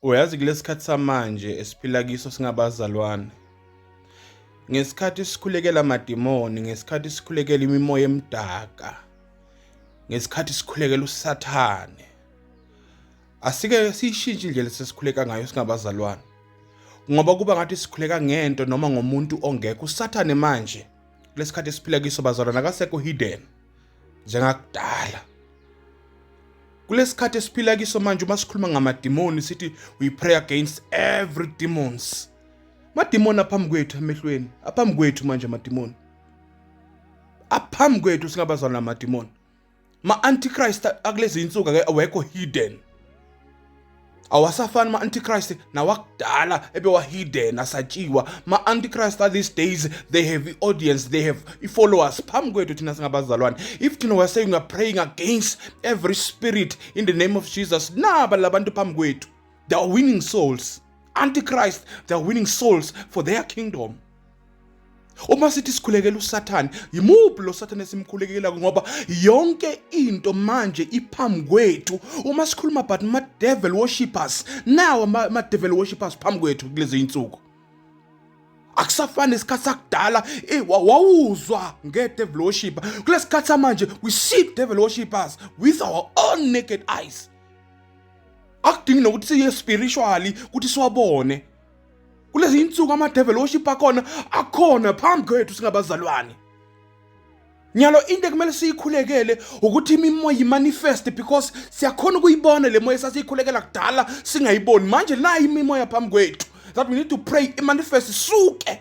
Uyazi kulesi khathi samanje esiphila kiso singabazalwane, ngesikhathi sikhulekela amadimoni, ngesikhathi sikhulekela imimoya emdaka, ngesikhathi sikhulekela usathane, asike siyishintshe indlela sesikhuleka ngayo singabazalwane ngoba kuba ngathi sikhuleka ngento noma ngomuntu ongekho usathane manje kulesikhathi esiphila kiso bazalwana akasekho hidden njengakudala. Kulesikhathi esiphila kiso manje uma sikhuluma ngamadimoni sithi we pray against every demons. Madimoni aphambi kwethu emehlweni, aphambi kwethu manje amadimoni. Aphambi kwethu singabazwana namadimoni. Ma antichrist akulezi insuku awekho hidden. awasafani ma-antichrist nawakudala ebewahidden asatshiwa ma-antichrist are these days they have i-audience they have i-followers phambi kwethu thina singabazalwane if thina we're saying we're praying against every spirit in the name of jesus naba labantu phambi kwethu they are winning souls antichrist they are winning souls for their kingdom Uma sithi sikhulekela uSathane, yimuphi lo Sathane esimkhulekelayo ngoba yonke into manje iphambi kwethu. Uma sikhuluma but ma devil worshippers, nawo ma devil worshippers phambi kwethu kulezi insuku. Akusafani isikhathi sakudala, eh wawuzwa nge devil worshipper. Kulesikhathi samanje we see devil worshippers with our own naked eyes. Akudingi nokuthi siye spiritually ukuthi siwabone. kulezi insuku amadevil worship akhona akhona phambi kwethu singabazalwane nyalo into ekumele siyikhulekele ukuthi imimoya imanifest because siyakhona ukuyibona le moya esasiyikhulekela kudala singayiboni manje nayo imimoya phambi kwethu that we need to pray imanifest suke